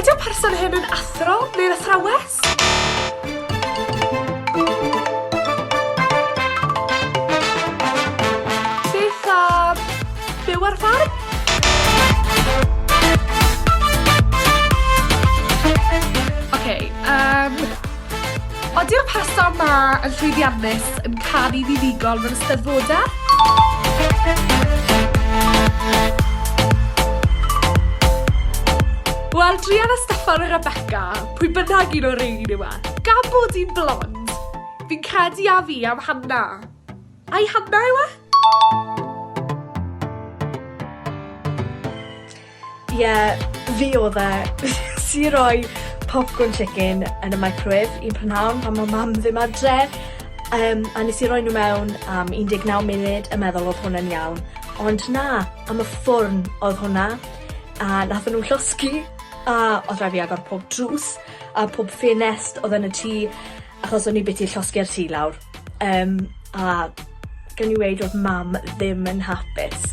Ydy'r person hyn yn athro neu'n athrawes? Beth am byw ar ffarm? Oce, yym... Ydy'r person 'ma yn llwyddiannus, yn canu fuddugol mewn Eisteddfodau? Wel, druan a Steffan a Rebecca, pwy bynnag un o'r rhein yw e. Gan bod hi'n blond, fi'n credu a fi am Hanna. Ai Hanna yw e? Ie, fi odd e. Nes i roi popcorn chicken yn y microwave un prynhawn pan o' mam ddim adre, yym a nes i roi nw mewn am 19 munud a meddwl odd hwnna'n iawn, ond na, am y ffwrn odd hwnna, a natho nw llosgi, a odd rai' fi agor pob drws a pob ffenest odd yn y tŷ, Achos o'n i biti llosgi'r tŷ lawr yym a gewn ni weud o'dd mam ddim yn hapus.